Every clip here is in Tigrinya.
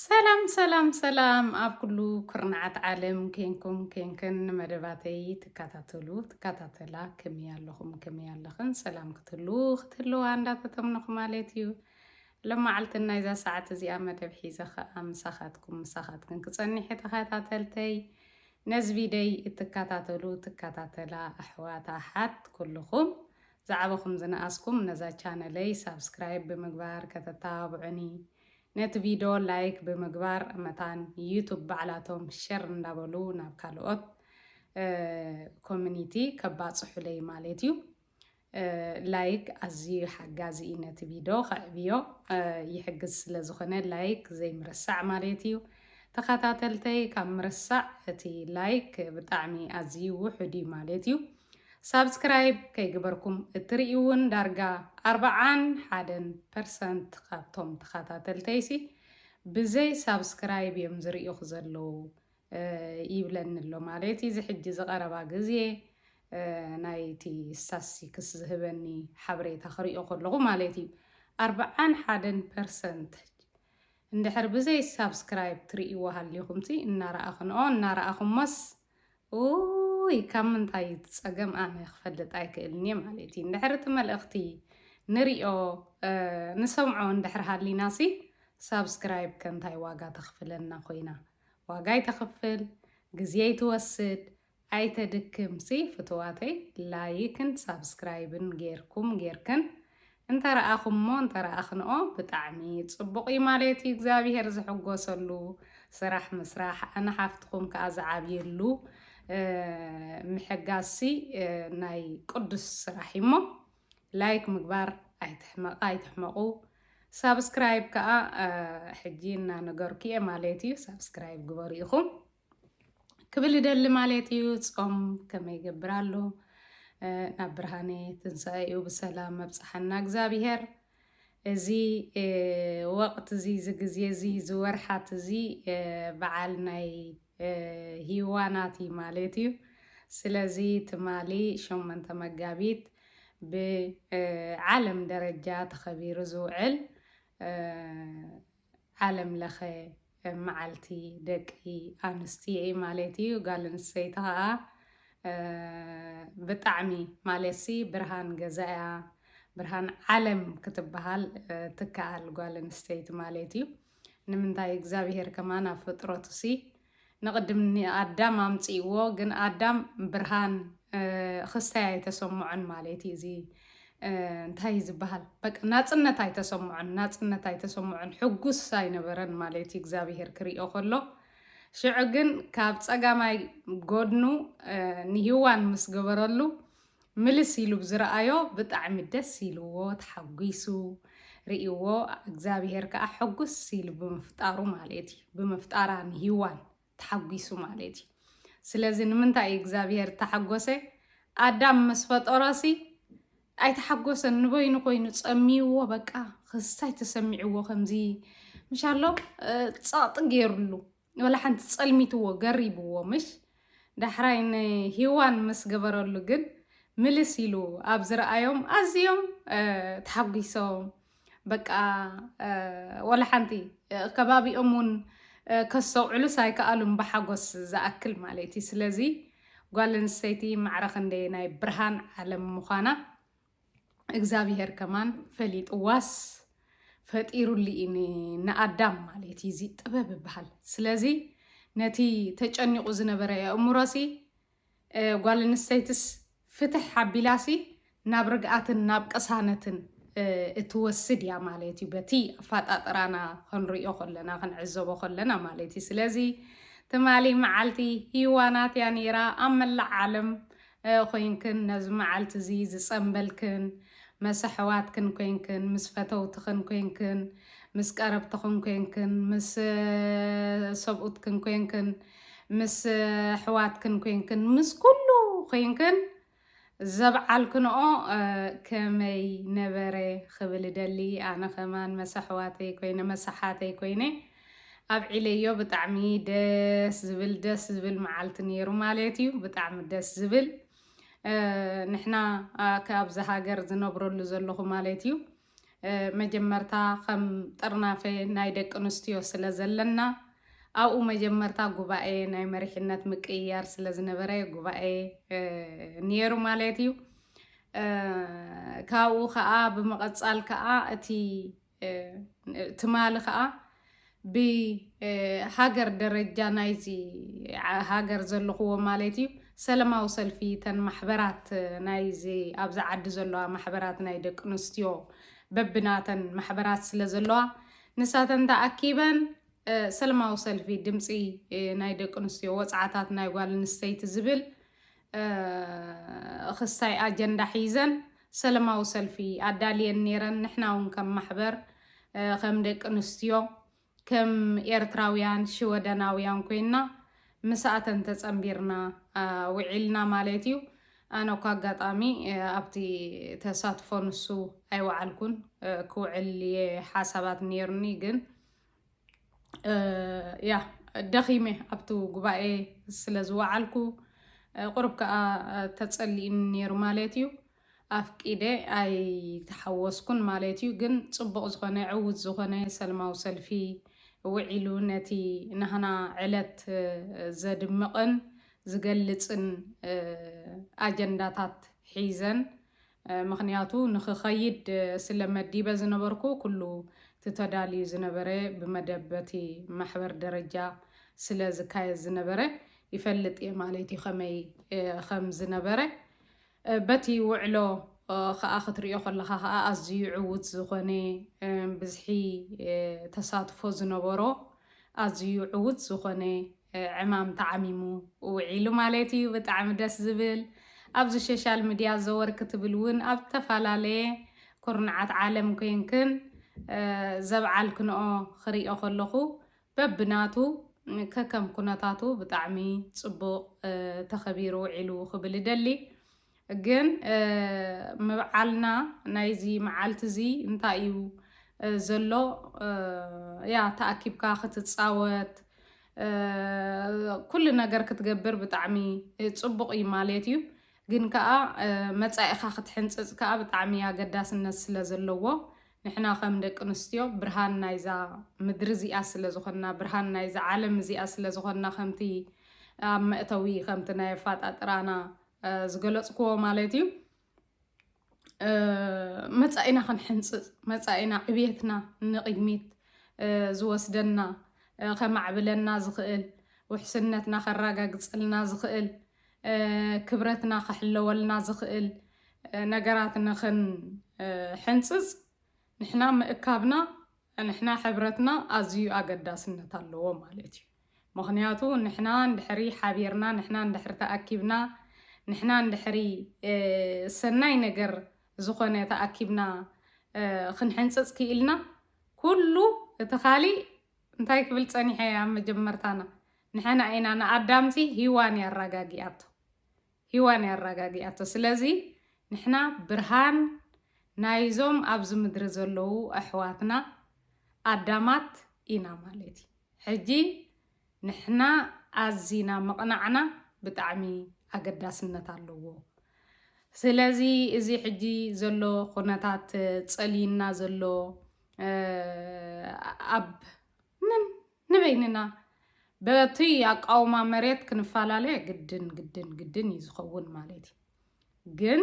ሰላም ሰላም ሰላም ኣብ ኩሉ ኩርናዓት ዓለም ኬንኩም ኬንክን መደባተይ ትከታተሉ ትከታተላ ከመይ ኣለኹም ከመይ ኣለኽን ሰላም ክትህሉ ክትህልዋ እንዳተተምነኹ ማለት እዩ ሎመዓልቲ ናይዛ ሰዓት እዚኣ መደብ ሒዘ ከዓ ምሳኻትኩም ምሳኻትክን ክፀኒሐ ተኸታተልተይ ነዚ ቪደይ እትከታተሉ ትከታተላ ኣሕዋት ኣሓት ኩልኹም ዝዓበኹም ዝነኣስኩም ነዛ ቻነለይ ሳብስክራይብ ብምግባር ከተተባብዑኒ ነቲ ቪዶ ላይክ ብምግባር መታን ዩቱብ ባዕላቶም ሸር እንዳበሉ ናብ ካልኦት ኮሚኒቲ ከባጽሑለይ ማለት እዩ ላይክ ኣዝዩ ሓጋዚ እዩ ነቲ ቪድዮ ከዕብዮ ይሕግዝ ስለ ዝኾነ ላይክ ዘይምርሳዕ ማለት እዩ ተኸታተልተይ ካብ ምርሳዕ እቲ ላይክ ብጣዕሚ ኣዝዩ ውሑድ እዩ ማለት እዩ ሳብስክራይብ ከይግበርኩም እትርእይውን ዳርጋ ኣርብዓን ሓደን ፐርሰንት ካብቶም ተኻታተልተይሲ ብዘይ ሳብስክራይብ እዮም ዝርእዩኽ ዘለዉ ይብለኒ ኣሎ ማለት እዚ ሕጂ ዝቐረባ ግዜ ናይቲ ስታስቲክስ ዝህበኒ ሓበሬታ ክርእዮ ከለኹ ማለት እዩ ኣርብዓን ሓደን ፐርሰንት እንድሕር ብዘይ ሳብስክራይብ ትርእይዎ ሃሊኹምሲ እናረኣኽንኦ እናረኣኹሞስ ኡይ ካብ ምንታይ እዩ እቲ ጸገም ኣነ ክፈልጥ ኣይክእልን እየ ማለት እዩ እንድሕር እቲ መልእኽቲ ንሪኦ ንሰምዖ እንድሕር ሃሊና ሲ ሳብስክራይብ ከንታይ ዋጋ ተኽፍለና ኮይና ዋጋ ኣይተኽፍል ግዜ ኣይትወስድ ኣይተድክም ሲ ፍትዋተይ ላይክን ሳብስክራይብን ጌርኩም ጌርክን እንተረኣኹሞ እንተረኣኽንኦ ብጣዕሚ ጽቡቕ እዩ ማለት እዩ እግዚኣብሄር ዝሕጎሰሉ ስራሕ ምስራሕ ኣነ ሓፍትኹም ከኣ ዝዓብየሉ ምሕጋዝሲ ናይ ቅዱስ ስራሕ እዩሞ ላይክ ምግባር ኣይትሕመቕ ኣይትሕመቑ ሳብስክራይብ ከኣ ሕጂ እናነገርኩ እየ ማለት እዩ ሳብስክራይብ ግበሩ ኢኹም ክብል ይደሊ ማለት እዩ። ጾም ከመይ ይገብር ኣሎ ናብ ብርሃነ ትንሣኤኡ ብሰላም መብጽሓና እግዚኣብሔር። እዚ ወቕት እዚ እዚ ግዜ እዚ እዚ ወርሓት እዚ በዓል ናይ ሂዋናት እዩ ማለት እዩ። ስለዚ ትማሊ ሸሞንተ መጋቢት ብዓለም ደረጃ ተኸቢሩ ዝውዕል ዓለም ለኸ መዓልቲ ደቂ ኣንስትዮ እዩ ማለት እዩ። ጋል ኣንስተይቲ ከዓ ብጣዕሚ ማለትሲ ብርሃን ገዛያ ብርሃን ዓለም ክትበሃል ትከኣል ጓል ኣንስተይቲ ማለት እዩ። ንምንታይ እግዚኣብሄር ከማን ኣብ ፍጥረቱሲ ንቅድም ንኣዳም ኣምጺእዎ ግን ኣዳም ብርሃን ኽስታይ ኣይተሰምዖን ማለት እዩ እዚ እንታይ እዩ ዝበሃል በቃ ናጽነት ኣይተሰምዖን ናጽነት ኣይተሰምዖን ሕጉስ ኣይነበረን ማለት እዩ እግዚኣብሄር ክሪኦ ከሎ ሽዑ ግን ካብ ጸጋማይ ጎድኑ ንሂዋን ምስ ገበረሉ ምልስ ኢሉ ብዝረኣዮ ብጣዕሚ ደስ ኢልዎ ተሓጒሱ ሪኢዎ እግዛብሄር ከኣ ሕጉስ ኢሉ ብምፍጣሩ ማለት እዩ ብምፍጣራ ንሂዋን ተሓጒሱ ማለት እዩ ስለዚ ንምንታይ እዩ እግዛብሄር ዝተሓጎሰ ኣዳም ምስ ፈጠሮሲ ኣይተሓጎሰን ንበይኑ ኮይኑ ጸሚይዎ በቃ ክስታይ ተሰሚዕዎ ከምዚ ምሻሎ ጸቕጢ ገይርሉ ወላ ሓንቲ ጸልሚትዎ ገሪብዎ ምሽ ዳሕራይ ንሂዋን ምስ ገበረሉ ግን ምልስ ኢሉ ኣብ ዝረኣዮም ኣዝዮም ተሓጒሶም በቃ ወላ ሓንቲ ከባቢኦም እውን ከስተውዕሉስ ኣይከኣሉም ብሓጎስ ዝኣክል ማለት እዩ ስለዚ ጓል ኣንስተይቲ ማዕረ ክንደየናይ ብርሃን ዓለም ምዃና እግዚኣብሄር ከማን ፈሊጥዋስ ፈጢሩሉ እዩ ንኣዳም ማለት እዩ እዚ ጥበብ ይበሃል ስለዚ ነቲ ተጨኒቑ ዝነበረ የእምሮሲ ጓል ኣንስተይትስ ፍትሕ ሓቢላሲ ናብ ርግኣትን ናብ ቅሳነትን እትወስድ እያ ማለት እዩ በቲ ኣፈጣጥራና ክንሪኦ ከለና ክንዕዘቦ ከለና ማለት እዩ ስለዚ ትማሊ መዓልቲ ህዋናት እያ ነይራ ኣብ መላእ ዓለም ኾይንክን ነዚ መዓልቲ እዚ ዝጸንበልክን መስ ኣሕዋትክን ኮይንክን ምስ ፈተውትኽን ኮይንክን ምስ ቀረብትኽን ኮይንክን ምስ ሰብኡትክን ኮይንክን ምስ ኣሕዋትክን ኮይንክን ምስ ኩሉ ኮይንክን ዘብዓልክንኦ ከመይ ነበረ ክብል እደሊ ኣነ ከማን መስ ኣሕዋተይ ኮይነ መስ ኣሓተይ ኮይነ ኣብዒለዮ ብጣዕሚ ደስ ዝብል ደስ ዝብል መዓልቲ ነይሩ ማለት እዩ ብጣዕሚ ደስ ዝብል ንሕና ካብዚ ሃገር ዝነብረሉ ዘለኹ ማለት እዩ መጀመርታ ከም ጥርናፈ ናይ ደቂ ኣንስትዮ ስለ ዘለና ኣብኡ መጀመርታ ጉባኤ ናይ መሪሕነት ምቅይያር ስለ ዝነበረ ጉባኤ ነይሩ ማለት እዩ ካብኡ ከዓ ብምቐፃል ከዓ እቲ ትማሊ ከዓ ብሃገር ደረጃ ናይዚ ሃገር ዘለኹዎ ማለት እዩ ሰለማዊ ሰልፊ ተን ማሕበራት ናይዚ ኣብዚ ዓዲ ዘለዋ ማሕበራት ናይ ደቂ ኣንስትዮ በብናተን ማሕበራት ስለ ዘለዋ ንሳተን ተኣኪበን ሰለማዊ ሰልፊ ድምፂ ናይ ደቂ ኣንስትዮ ወፅዓታት ናይ ጓል ኣንስተይቲ ዝብል እኽስታይ ኣጀንዳ ሒዘን ሰለማዊ ሰልፊ ኣዳልየን ነይረን። ንሕና እውን ከም ማሕበር ከም ደቂ ኣንስትዮ ከም ኤርትራውያን ሽወደናውያን ኮይና ምስኣተን ተጸንቢርና ውዒልና ማለት እዩ። ኣነ እኳ ኣጋጣሚ ኣብቲ ተሳትፎ ንሱ ኣይወዓልኩን ክውዕል እየ ሓሳባት ነይሩኒ ግን ያ ደኺመ ኣብቲ ጉባኤ ስለ ዝወዓልኩ ቁርብ ከዓ ተፀሊእኒ ነይሩ ማለት እዩ ኣፍቂደ ኣይተሓወስኩን ማለት እዩ ግን ፅቡቕ ዝኾነ ዕውት ዝኾነ ሰልማዊ ሰልፊ ውዒሉ ነቲ ናህና ዕለት ዘድምቕን ዝገልፅን ኣጀንዳታት ሒዘን ምኽንያቱ ንኽኸይድ ስለ መዲበ ዝነበርኩ ኩሉ እቲ ተዳልዩ ዝነበረ ብመደብ በቲ ማሕበር ደረጃ ስለ ዝካየድ ዝነበረ ይፈልጥ እየ ማለት እዩ ከመይ ከም ዝነበረ በቲ ውዕሎ ከኣ ክትሪኦ ከለኻ ከኣ ኣዝዩ ዕዉት ዝኾነ ብዝሒ ተሳትፎ ዝነበሮ ኣዝዩ ዕዉት ዝኾነ ዕማም ተዓሚሙ ውዒሉ ማለት እዩ ብጣዕሚ ደስ ዝብል ኣብዚ ሸሻል ምድያ ዘወር ክትብል እውን ኣብ ዝተፈላለየ ኩርናዓት ዓለም ኮይንክን ዘብዓልክንኦ ክሪኦ ከለኹ በብናቱ ከከም ኩነታቱ ብጣዕሚ ፅቡቕ ተኸቢሩ ውዒሉ ክብል እደሊ ግን ምብዓልና ናይዚ መዓልቲ እዚ እንታይ እዩ ዘሎ ያ ተኣኪብካ ክትጻወት ኩሉ ነገር ክትገብር ብጣዕሚ ጽቡቕ እዩ ማለት እዩ ግን ከኣ መጻኢኻ ክትሕንጽጽ ከኣ ብጣዕሚ ኣገዳስነት ስለ ዘለዎ ንሕና ከም ደቂ ኣንስትዮ ብርሃን ናይዛ ምድሪ እዚኣ ስለ ዝኾንና ብርሃን ናይዛ ዓለም እዚኣ ስለ ዝኾንና ከምቲ ኣብ መእተዊ ከምቲ ናይ ኣፋጣጥራና ዝገለፅክዎ ማለት እዩ መፃኢና ክንሕንፅፅ መፃኢና ዕብየትና ንቕድሚት ዝወስደና ከማዕብለና ዝኽእል ውሕስነትና ከረጋግፀልና ዝኽእል ክብረትና ከሕለወልና ዝኽእል ነገራት ንኽንሕንፅፅ ንሕና ምእካብና ንሕና ሕብረትና ኣዝዩ ኣገዳስነት ኣለዎ ማለት እዩ ምክንያቱ ንሕና እንድሕሪ ሓቢርና ንሕና እንድሕሪ ተኣኪብና ንሕና እንድሕሪ ሰናይ ነገር ዝኾነ ተኣኪብና ክንሕንጽጽ ክኢልና ኩሉ እቲ ካሊእ እንታይ ክብል ጸኒሐ ኣብ መጀመርታና ንሕና ኢና ንኣዳምሲ ሂዋን እያ ኣራጋጊኣቶ ሂዋን እያ ኣራጋጊኣቶ ስለዚ ንሕና ብርሃን ናይዞም ኣብዚ ምድሪ ዘለዉ ኣሕዋትና ኣዳማት ኢና ማለት እዩ ሕጂ ንሕና ኣዚና ምቕናዕና ብጣዕሚ ኣገዳስነት ኣለዎ ስለዚ እዚ ሕጂ ዘሎ ኩነታት ጸልዩና ዘሎ ኣብ ምን ንበይንና በቲ ኣቃውማ መሬት ክንፈላለ ግድን ግድን ግድን እዩ ዝኸውን ማለት እዩ። ግን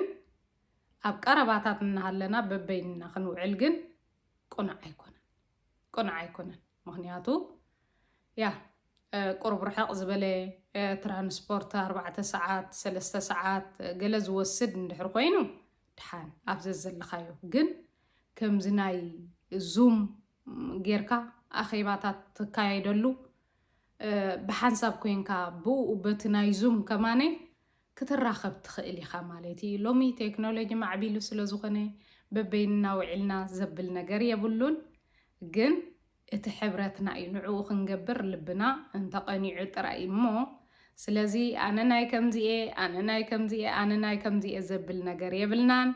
ኣብ ቀረባታት እናሃለና በበይንና ክንውዕል ግን ቁኑዕ ኣይኮነን ቁኑዕ ኣይኮነን ምክንያቱ ያ ቁርብ ርሕቕ ዝበለ ትራንስፖርት ኣርባዕተ ሰዓት ሰለስተ ሰዓት ገለ ዝወስድ እንድሕር ኮይኑ ድሓን ኣብ ዘዘለኻዮ ግን ከምዚ ናይ ዙም ጌርካ ኣኼባታት ተካየደሉ ብሓንሳብ ኮይንካ ብኡ በቲ ናይ ዙም ከማነ ክትራኸብ ትኽእል ኢኻ ማለት እዩ። ሎሚ ቴክኖሎጂ ማዕቢሉ ስለ ዝኾነ በበይንና ውዒልና ዘብል ነገር የብሉን ግን እቲ ሕብረትና እዩ ንዕኡ ክንገብር ልብና እንተቐኒዑ ጥራይ እሞ ስለዚ ኣነ ናይ ከምዚኤ ኣነ ናይ ከምዚኤ ኣነ ናይ ከምዚኤ ዘብል ነገር የብልናን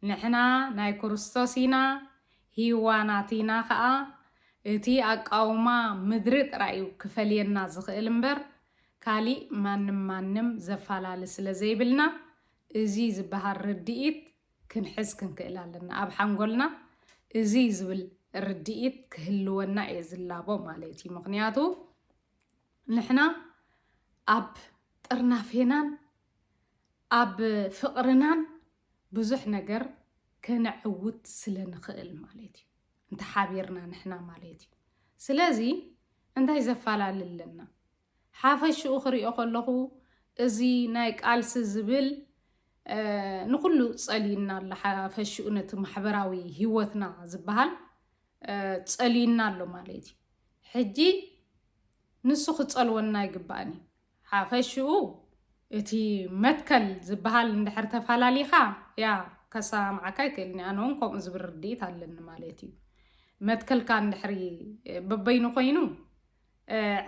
ንሕና ናይ ክርስቶስ ኢና ሂዋ ናቲና ከኣ እቲ ኣቃውማ ምድሪ ጥራይ እዩ ክፈልየና ዝኽእል እምበር ካሊእ ማንም ማንም ዘፋላሊ ስለ ዘይብልና እዙይ ዝባሃል ርድኢት ክንሕዝ ክንክእል ኣለና ኣብ ሓንጎልና እዙይ ዝብል ርድኢት ክህልወና እየ ዝላቦ ማለት እዩ ምኽንያቱ ንሕና ኣብ ጥርናፌናን ኣብ ፍቕርናን ብዙሕ ነገር ከነዕውት ስለ ንኽእል ማለት እዩ። እንተ ሓቢርና ንሕና ማለት እዩ። ስለዚ እንታይ ዘፋላሊ ኣለና? ሓፈሽኡ ክሪኦ ከለኹ እዚ ናይ ቃልሲ ዝብል ንኹሉ ጸልዩና ኣሎ። ሓፈሽኡ ነቲ ማሕበራዊ ህይወትና ዝበሃል ጸልዩና ኣሎ ማለት እዩ። ሕጂ ንሱ ክጸልወና ኣይግባእን እዩ። ሓፈሽኡ እቲ መትከል ዝበሃል እንድሕር ተፋላሊኻ ያ ከሰማምዓካ ይክእል እኒ ኣነውን ከምኡ ዝብል ርድኢት ኣለኒ ማለት እዩ መትከልካ እንድሕሪ በበይኑ ኮይኑ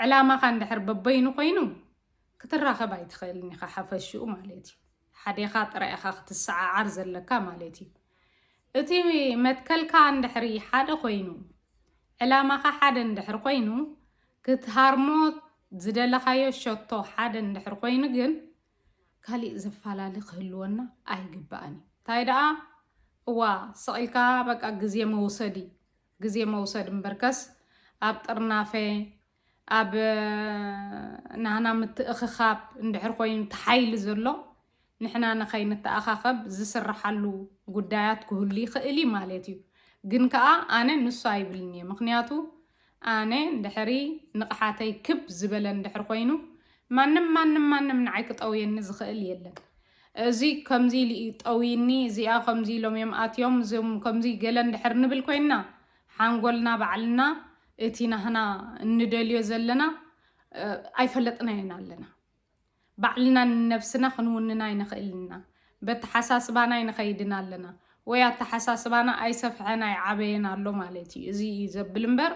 ዕላማኻ እንድሕር በበይኑ ኮይኑ ክትራኸብ ኣይትኽእልን ኢኻ ሓፈሽኡ ማለት እዩ ሓዴኻ ጥራይ ኢኻ ክትሰዓዓር ዘለካ ማለት እዩ። እቲ መትከልካ እንድሕሪ ሓደ ኮይኑ ዕላማኻ ሓደ እንድሕሪ ኮይኑ ክትሃርሞ ዝደለኻዮ ሸቶ ሓደ እንድሕሪ ኮይኑ ግን ካሊእ ዘፋላሊ ክህልወና ኣይግባእን እዩ። እንታይ ደኣ እዋ ሰቂልካ በቃ ግዜ መውሰዲ ግዜ መውሰድ እምበርከስ ኣብ ጥርናፈ ኣብ ናህና ምትእኽኻብ እንድሕር ኮይኑ እቲ ሓይሊ ዘሎ ንሕና ንኸይንተኣኻኸብ ዝስርሓሉ ጉዳያት ክህሉ ይኽእል እዩ ማለት እዩ። ግን ከዓ ኣነ ንሱ ኣይብልን እየ ምክንያቱ ኣነ ድሕሪ ንቕሓተይ ክብ ዝበለ እንድሕር ኮይኑ ማንም ማንም ማንም ንዓይ ክጠውየኒ ዝኽእል የለን። እዚ ከምዚ ኢሉ እዩ ጠውይኒ እዚኣ ከምዚ ኢሎም እዮም ኣትዮም እዞም ከምዚ ገለ እንድሕር ንብል ኮይንና ሓንጎልና ባዕልና እቲ ናህና እንደልዮ ዘለና ኣይፈለጥናዮን ኣለና ባዕልና ንነብስና ክንውንና ኣይንኽእልና በተሓሳስባና ኣይንኸይድን ኣለና ወይ ኣተሓሳስባና ኣይሰፍሐን ኣይዓበየን ኣሎ ማለት እዩ እዚ እዩ ዘብል እምበር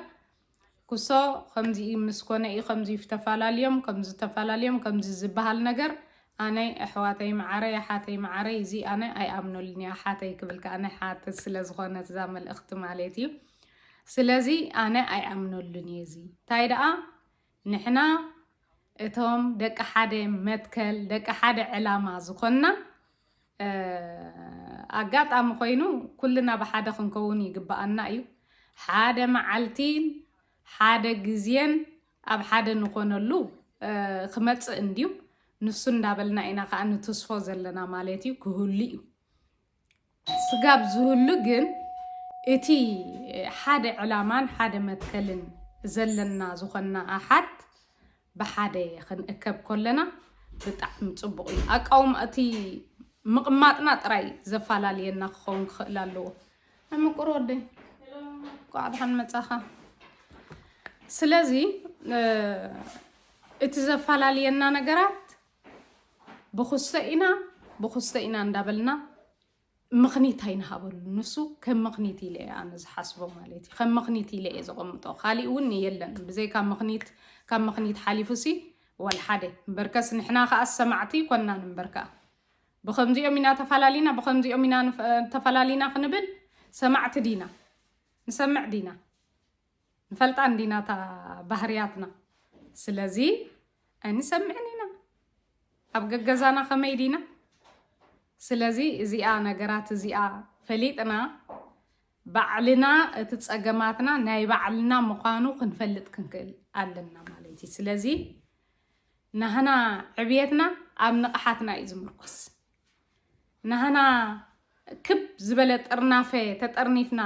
ኩሶ ከምዚ ምስ ኮነ እዩ ከምዚ ተፈላልዮም ከምዚ ተፈላልዮም ከምዚ ዝበሃል ነገር ኣነ ኣሕዋተይ መዓረይ ኣሓተይ መዓረይ እዚ ኣነ ኣይኣምነሉን እየ ኣሓተይ ክብል ከኣ ናይ ሓትት ስለ ዝኾነት እዛ መልእኽቲ ማለት እዩ ስለዚ ኣነ ኣይኣምነሉን እየ እዚ እንታይ ደኣ ንሕና እቶም ደቂ ሓደ መትከል ደቂ ሓደ ዕላማ ዝኾንና ኣጋጣሚ ኮይኑ ኩልና ብሓደ ክንከውን ይግበኣና እዩ ሓደ መዓልቲን ሓደ ግዜን ኣብ ሓደ ንኾነሉ ክመፅእ እንድዩ ንሱ እንዳበልና ኢና ከዓ ንትስፎ ዘለና ማለት እዩ ክህሉ እዩ ስጋብ ዝህሉ ግን እቲ ሓደ ዕላማን ሓደ መትከልን ዘለና ዝኾንና ኣሓት ብሓደ ክንእከብ ኮለና ብጣዕሚ ፅቡቕ እዩ። ኣቃውማ እቲ ምቕማጥና ጥራይ ዘፋላልየና ክኸውን ክኽእል ኣለዎ። ምቁር ወደይ ቋዕ ድሓን መጻኻ ስለዚ እቲ ዘፈላልየና ነገራት ብኩሰ ኢና ብኩሰ ኢና እንዳበልና ምኽኒት ኣይንሃበሉ ንሱ ከም ምኽኒት ኢለ እየ ኣነ ዝሓስቦ ማለት እዩ ከም ምኽኒት ኢለ እየ ዘቐምጦ ካሊእ እውን የለን ብዘይካ ምኽኒት ካብ ምኽኒት ሓሊፉ ሲ ዋልሓደ እምበርከስ ንሕና ከዓ ሰማዕቲ ኮናን እምበርካ ብኸምዚኦም ኢና ተፋላሊና ብኸምዚኦም ኢና ተፋላሊና ክንብል ሰማዕቲ ዲና ንሰምዕ ዲና ንፈልጣ እንዲና እታ ባህርያትና ስለዚ ኣይንሰምዕን ኢና ኣብ ገገዛና ከመይ ዲና ስለዚ እዚኣ ነገራት እዚኣ ፈሊጥና ባዕልና እቲ ፀገማትና ናይ ባዕልና ምዃኑ ክንፈልጥ ክንክእል ኣለና ማለት እዩ ስለዚ ናህና ዕብየትና ኣብ ንቕሓትና እዩ ዝምርኮስ። ናህና ክብ ዝበለ ጥርናፈ ተጠርኒፍና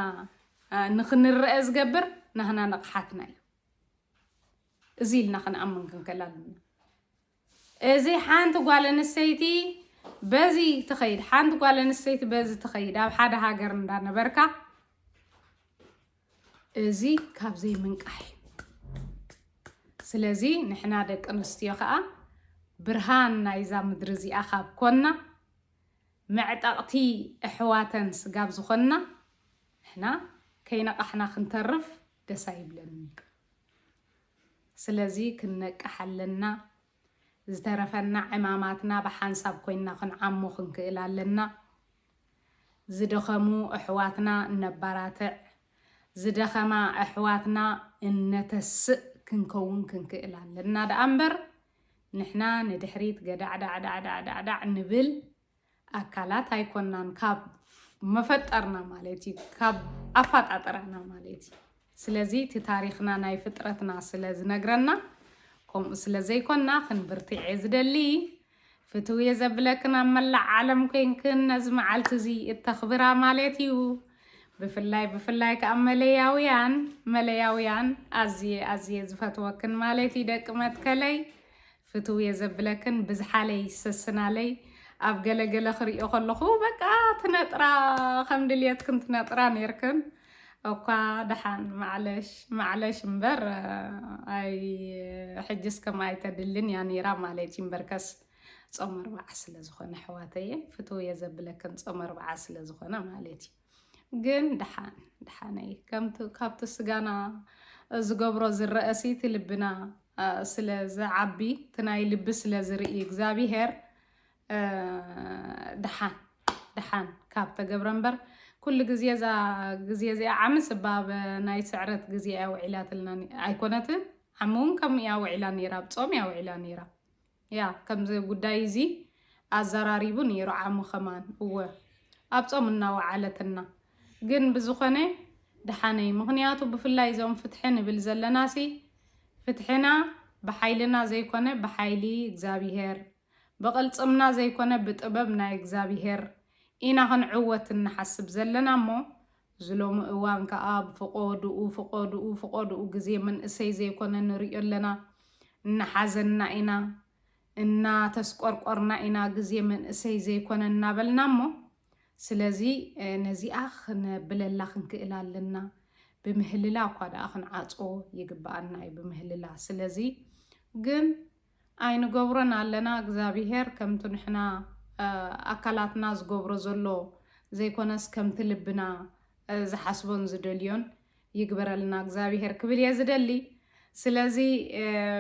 ንክንረአ ዝገብር ናህና ንቕሓትና እዩ። እዚ ኢልና ክንኣምን ክንከል ኣለና። እዚ ሓንቲ ጓል ኣንስተይቲ በዚ ትኸይድ ሓንቲ ጓል ኣንስተይቲ በዚ ትኸይድ ኣብ ሓደ ሃገር እንዳነበርካ እዚ ካብ ዘይምንቃሕ እዩ። ስለዚ ንሕና ደቂ ኣንስትዮ ከዓ ብርሃን ናይዛ ምድሪ እዚኣ ካብ ኮና መዕጠቕቲ ኣሕዋተን ስጋብ ዝኾንና ንሕና ከይነቓሕና ክንተርፍ ደስ ኣይብለንን እዩ። ስለዚ ክንነቅሕ ኣለና። ዝተረፈና ዕማማትና ብሓንሳብ ኮይንና ክንዓሙ ክንክእል ኣለና። ዝደኸሙ ኣሕዋትና እነባራትዕ፣ ዝደኸማ ኣሕዋትና እነተስእ ክንከውን ክንክእል ኣለና ደኣ እምበር ንሕና ንድሕሪት ገዳዕዳዕዳዕዳዕዳዕ ንብል። ኣካላት ኣይኮናን ካብ መፈጠርና ማለት እዩ ካብ ኣፋጣጠራና ማለት እዩ ስለዚ እቲ ታሪክና ናይ ፍጥረትና ስለ ዝነግረና ከምኡ ስለ ዘይኮና ክንብርትዔ ዝደሊ ፍትው እየ ዘብለክን ኣብ መላዕ ዓለም ኮንክን ነዚ መዓልቲ እዚ እተኽብራ ማለት እዩ ብፍላይ ብፍላይ ከዓ መለያውያን መለያውያን ኣዝየ ኣዝየ ዝፈትወክን ማለት እዩ ደቂ መትከለይ ፍትው'የ ዘብለክን ብዝሓለይ ሰስናለይ ኣብ ገለ ገለ ክሪኦ ከለኹ በቃ ትነጥራ ከም ድልየትክን ትነጥራ ኔርክን እኳ ደሓን ማዕለሽ ማዕለሽ እምበር ኣይ ሕጅስ ከም ኣይተድልን እያ ኔራ ማለት እዩ እምበርከስ ጾም ኣርባዓ ስለ ዝኾነ ኣሕዋተየ ፍትው'የ ዘብለክን ጾም ኣርባዓ ስለ ዝኾነ ማለት እዩ ግን ድሓን ድሓነይ ከምቲ ካብቲ ስጋና ዝገብሮ ዝረኣሲ እቲ ልብና ስለ ዝዓቢ እቲ ናይ ልቢ ስለ ዝርኢ እግዚኣብሄር ድሓን ድሓን ካብ ተገብረ እምበር ኩሉ ግዜ እዛ ግዜ እዚኣ ዓሚ ስባብ ናይ ስዕረት ግዜ እያ ውዒላትልና ኣይኮነትን ዓሚ እውን ከምኡ እያ ውዒላ ነይራ ብ ጾም እያ ውዒላ ነይራ ያ ከምዚ ጉዳይ እዚ ኣዘራሪቡ ነይሩ ዓሙ ከማን እወ ኣብ ጾም እናወዓለትና ግን ብዝኾነ ደሓነይ ምኽንያቱ ብፍላይ እዞም ፍትሒ ንብል ዘለናሲ ፍትሕና ብሓይልና ዘይኮነ ብሓይሊ እግዚኣብሄር ብቕልጽምና ዘይኮነ ብጥበብ ናይ እግዚኣብሄር ኢና ክንዕወት እንሓስብ ዘለና እሞ እዚ ሎሚ እዋን ከኣ ብፍቆዱኡ ፍቆዱኡ ፍቆዱኡ ግዜ መንእሰይ ዘይኮነ ንሪኦ ኣለና። እናሓዘና ኢና፣ እናተስቆርቆርና ኢና ግዜ መንእሰይ ዘይኮነ እናበልና እሞ ስለዚ ነዚኣ ክነብለላ ክንክእል ኣለና። ብምህልላ እኳ ደኣ ክንዓጾ ይግብኣና እዩ ብምህልላ ስለዚ ግን ኣይንገብሮን ኣለና እግዛቢሄር ከምቱ ንሕና ኣካላትና ዝገብሮ ዘሎ ዘይኮነስ ከምቲ ልብና ዝሓስቦን ዝደልዮን ይግበረልና እግዛቢሄር ክብል እየ ዝደሊ ስለዚ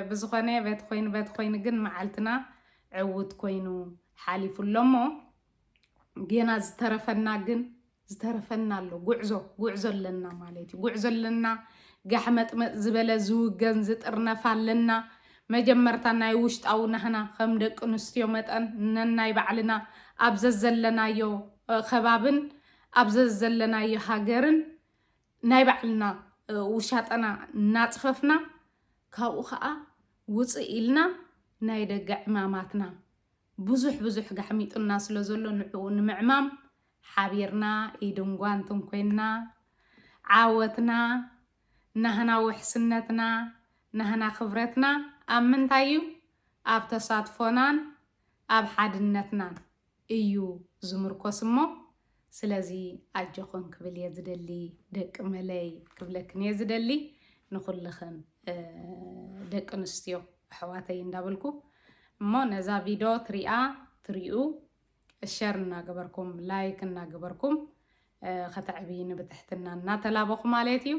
ብዝኾነ በቲ ኮይኑ በቲ ኮይኑ ግን መዓልትና ዕውት ኮይኑ ሓሊፉ ኣሎሞ ጌና ዝተረፈና ግን ዝተረፈና ኣሎ ጉዕዞ ጉዕዞ ኣለና ማለት እዩ ጉዕዞ ኣለና ጋሕመጥመጥ ዝበለ ዝውገን ዝጥርነፍ ኣለና መጀመርታ ናይ ውሽጣዊ ናህና ከም ደቂ ኣንስትዮ መጠን ነናይ ባዕልና ኣብ ዘዘለናዮ ከባብን ኣብ ዘዘለናዮ ሃገርን ናይ ባዕልና ውሻጠና እናፅፈፍና ካብኡ ከዓ ውፅእ ኢልና ናይ ደገ ዕማማትና ብዙሕ ብዙሕ ጋሕሚጡና ስለ ዘሎ ንዕኡ ንምዕማም ሓቢርና ኢድን ጓንትን ኮይንና ዓወትና ናህና ውሕስነትና ናህና ክብረትና ኣብ ምንታይ እዩ ኣብ ተሳትፎናን ኣብ ሓድነትናን እዩ ዝምርኮስ እሞ ስለዚ ኣጆኽን ክብል እየ ዝደሊ ደቂ መለይ ክብለክን እየ ዝደሊ ንኹልኽን ደቂ ኣንስትዮ ኣሕዋተይ እንዳበልኩ እሞ ነዛ ቪድዮ ትሪኣ ትሪኡ ሸር እናገበርኩም ላይክ እናገበርኩም ከተዕብይኒ ብትሕትና እናተላበኹ ማለት እዩ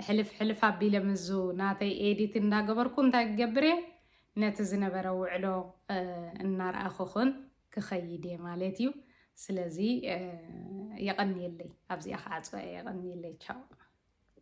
ሕልፍ ሕልፍ ኣቢለ ምዙ ናተይ ኤዲት እንዳገበርኩ እንታይ ክገብር እየ ነቲ ዝነበረ ውዕሎ እናርኣኽኹን ክኸይድ እየ ማለት እዩ ስለዚ የቐንየለይ ኣብዚኣ ክዓፅዋ እየ የቐንየለይ ቻው